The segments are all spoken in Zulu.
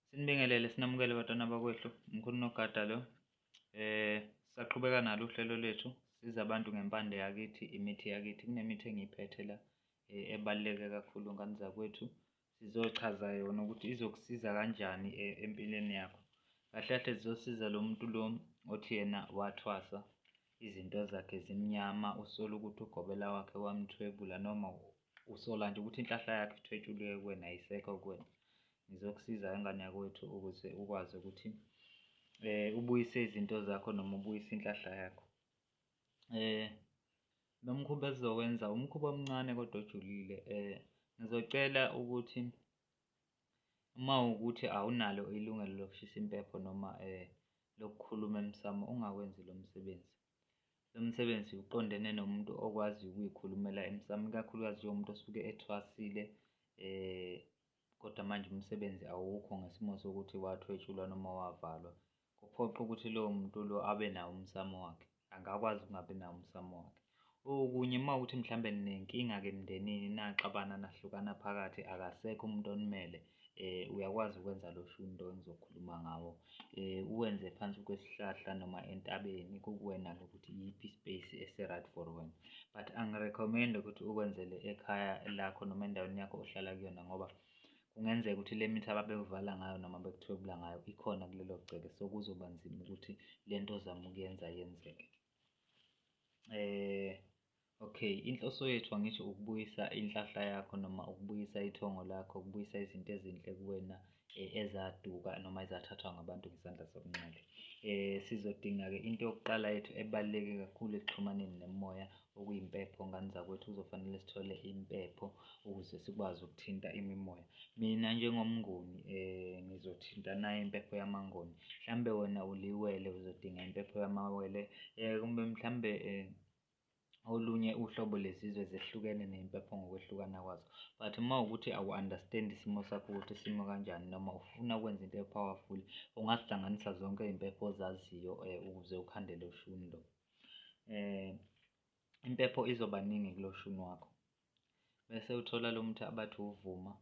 Sinibingelele sinamukele batwana bakwethu mkhulu nogada lo eh saqhubeka nalo uhlelo lwethu siza abantu ngempande yakithi imithi yakithi kunemithi engiyiphethe la eh, ebaluleke kakhulu ngani zakwethu sizochaza yona ukuthi izokusiza kanjani eh, empilweni yakho kahle kahle zizosiza lo muntu lo othi yena wathwasa Izinto zakhe zimnyama usola ukuthi ugobela wakhe wamthwebula noma usola nje ukuthi inhlahla yakhe ithwetshuliwe kuwena ayisekho kuwena ngizokusiza ingane yakwethu ukuze ukwazi ukuthi eh ubuyise izinto zakho noma ubuyise inhlahla yakho eh lo mkhuba esizowenza umkhuba omncane kodwa ojulile eh ngizocela ukuthi Uma kuwukuthi awunalo ilungelo lokushisa impepho noma lokukhuluma emsamo ungawenzi lo msebenzi. Lo msebenzi uqondene nomuntu okwaziyo ukuyikhulumela emsamo, ikakhulukazi njengomuntu osuke ethwasile kodwa manje umsebenzi awukho ngesimo sokuthi wathwetshulwa noma wavalwa. kuphoqa ukuthi lowo muntu lo abe nawo umsamo wakhe angakwazi ukungabi nawo umsamo wakhe okunye uma ukuthi mhlawumbe ninenkinga-ke emndenini naxabana nahlukana phakathi akasekho umuntu onimele eh uyakwazi ukwenza lo shunto engizokhuluma ngawo eh uwenze phansi kwesihlahla noma entabeni kukuwena ukuthi yiphi space esi-right for wena but angirecommend ukuthi ukwenzele ekhaya lakho noma endaweni yakho ohlala kuyona ngoba Kungenzeka ukuthi le mithi ababekuvala ngayo noma bekuthwebula ngayo ikhona kulelo gceke, so kuzoba nzima ukuthi le nto ozama ukuyenza yenzeke. Eh okay, inhloso yethu angisho ukubuyisa inhlahla yakho noma ukubuyisa ithongo lakho, ukubuyisa izinto ezinhle kuwena eh, ezaduka noma ezathathwa ngabantu ngesandla sokunxele. Eh sizodinga-ke into yokuqala yethu ebaluleke kakhulu ekuxhumaneni nemoya okuyimpepho ngani zakwethu kuzofanele sithole impepho ukuze sikwazi ukuthinta imimoya mina njengomnguni eh ngizothinta nayo impepho yamangoni mhlambe wena uliwele uzodinga impepho yamawele eh kumbe mhlambe eh olunye uhlobo lezizwe zehlukene nempepho ngokwehlukana kwazo but uma ukuthi awu-understand isimo sakho ukuthi isimo kanjani noma ufuna ukwenza into e-powerful ungazihlanganisa zonke iy'mpepho ozaziyo um ukuze ukhandele ushuni lo eh impepho izoba ningi kuloshuni wakho bese uthola lo muthi abathi uvuma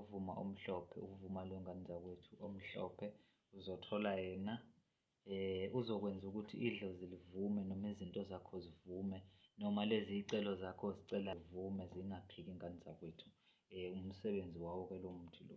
uvuma omhlophe uvuma lo ngane zakwethu omhlophe uzothola yena eh uzokwenza ukuthi idlozi livume noma izinto zakho zivume noma lezi icelo zakho zicela zivume zingaphiki ingane zakwethu eh umsebenzi wawo ke lo muthi lo.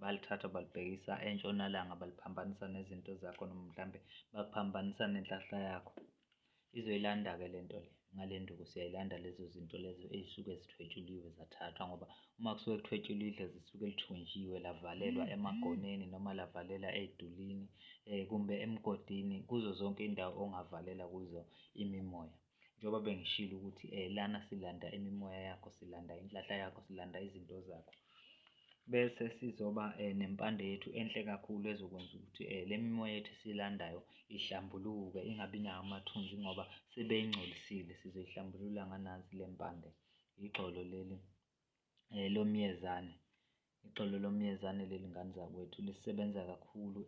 Balithatha balibhekisa entshonalanga baliphambanisa nezinto zakho noma mhlampe baphambanisa nenhlahla yakho. Izoyilanda-ke le nto le ngale nduku siyayilanda lezo zinto lezo ey'suke zithwetshuliwe zathathwa ngoba uma kusuke kuthwetshuliwe idlozi lisuke lithunjiwe lavalelwa mm-hmm. emagoneni noma lavalela ey'dulini um kumbe emgodini kuzo zonke iy'ndawo ongavalela kuzo imimoya njengoba bengishilo ukuthi eh lana silanda imimoya yakho silanda inhlahla yakho silanda izinto zakho bese sizoba eh, nempande yethu enhle kakhulu ezokwenza ukuthi eh, le mimoya yethu silandayo ihlambuluke ingabi nawo amathunzi ngoba sebeyingcolisile sizoyihlambulula nganansi le mpande igxolo leli eh, lomyezane Igxolo lomyezane leli ngane zakwethu lisebenza kakhulu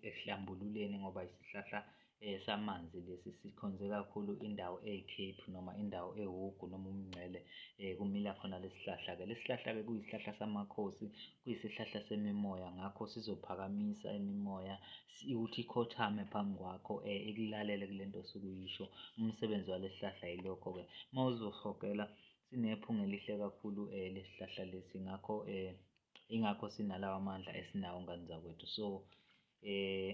ekuhlambululeni ngoba isihlahla samanzi lesi sikhonze kakhulu indawo eyikhephu noma indawo ewugu noma umngcele kumila khona lesi sihlahla-ke. Lesi sihlahla-ke kuyisihlahla samakhosi, kuyisihlahla semimoya ngakho sizophakamisa imimoya ukuthi ikhothame phambi kwakho ikulalele kule nto osuke uyisho. Umsebenzi walesi sihlahla yilokho-ke uma uzohogela Sinephunga elihle kakhulu eh lesihlahla lesi ngakho eh ingakho sinalawa amandla esinawo ngani zakwethu so eh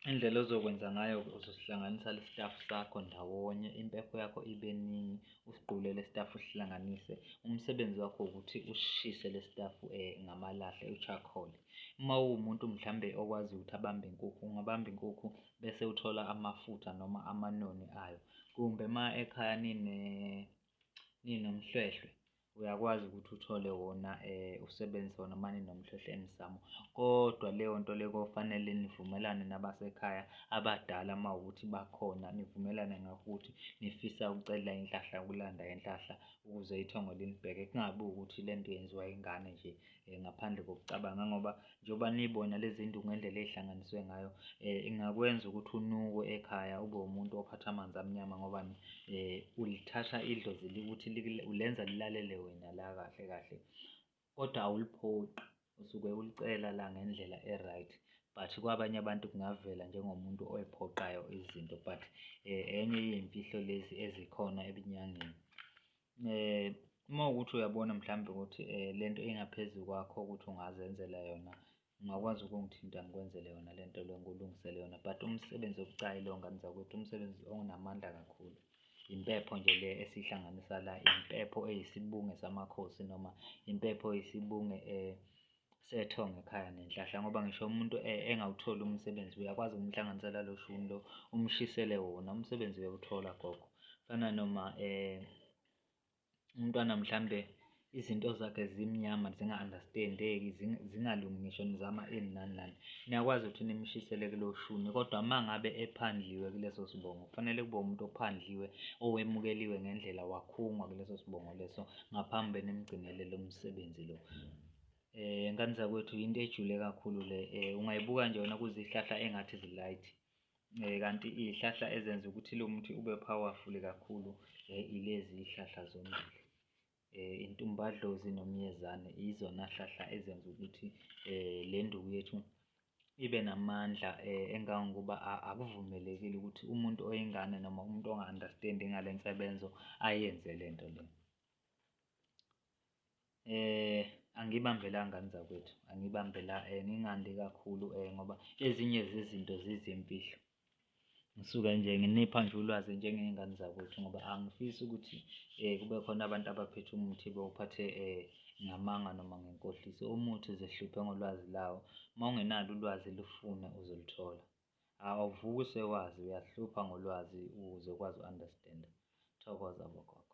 indlela ozokwenza ngayo uzosihlanganisa lestaff sakho ndawonye impepho yakho ibe ningi usigqule lestaff usihlanganise umsebenzi wakho ukuthi ushise lestaff eh ngamalahle uchakhole uma uwumuntu mhlambe okwazi ukuthi abambe inkukhu ungabamba inkukhu bese uthola amafutha noma amanoni ayo kumbe uma ekhaya nine ninomhlwehlwe uyakwazi ukuthi uthole wona um usebenzise wona uma ninomhlwehlwe emsamo kodwa leyo nto le kofanele nivumelane nabasekhaya abadala uma ukuthi bakhona nivumelane ngakho ukuthi nifisa ukucela inhlahla ukulanda inhlahla ukuze ithongo linibheke kungabi ukuthi le nto yenziwa ingane nje Eh, ngaphandle kokucabanga ngoba njengoba nibona lezi ndu ngendlela eyihlanganiswe ngayo eh, ingakwenza ukuthi unukwe ekhaya ube umuntu ophatha amanzi amnyama ngoba eh, ulithatha idlozi ukuthi ulenza lilalele wena la kahle kahle kodwa awuliphoqi usuke ulicela la ngendlela e-right but kwabanye abantu kungavela njengomuntu oyiphoqayo izinto but enye yey'mfihlo lezi ezikhona ebunyangeni Uma kuwukuthi uyabona mhlawumbe ukuthi le nto ingaphezu kwakho ukuthi ungazenzela yona, ungakwazi ukungithinta ngikwenzele yona le nto le, ngikulungisele yona but umsebenzi obucayi lo ngane zakwethu, umsebenzi onamandla kakhulu. Impepho nje le esiyihlanganisa la, impepho eyisibunge samakhosi noma impepho eyisibunge sethonga ekhaya nenhlahla ngoba ngisho umuntu e, engawutholi umsebenzi uyakwazi ukumhlanganisela lo shuni lo umshisele wona umsebenzi uyawuthola gogo fana noma eh umntwana mhlambe izinto zakhe zimnyama zinga-understandeki zingalungi ngisho nizama ini nani nani niyakwazi ukuthi nimshisele kulo shuni kodwa uma ngabe ephandliwe kuleso sibongo kufanele kube umuntu ophandliwe owemukeliwe ngendlela wakhungwa kuleso sibongo leso ngaphambi benimgcinele lo msebenzi lo Eh ngani zakwethu into ejule kakhulu le eh ungayibuka nje wena kuzihlahla engathi zilight. Eh kanti izihlahla ezenza ukuthi lo muthi ube powerful kakhulu eh, ilezi zihlahla zombili. Eh intumbadlozi nomyezane izona hlahla ezenza ukuthi eh le nduku yethu ibe namandla eh engangokuba akuvumelekile ukuthi umuntu oyingane noma umuntu onga-understand ngale nsebenzo ayenze lento le. eh angibambelanga mzakwethu angibambela eh, ngingandi kakhulu eh ngoba ezinye zezinto zizimfihlo ngisuke nje nginipha nje ulwazi njengey'ngane zakwethu ngoba angifisi ukuthi um kube khona abantu abaphethe umuthi bewuphathe um ngamanga noma ngenkohliso umuthi zehluphe ngolwazi lawo uma ungenalo ulwazi lufune uzoluthola awuvuki usewazi uyahlupha ngolwazi uzokwazi u-understanda thokoza bogogo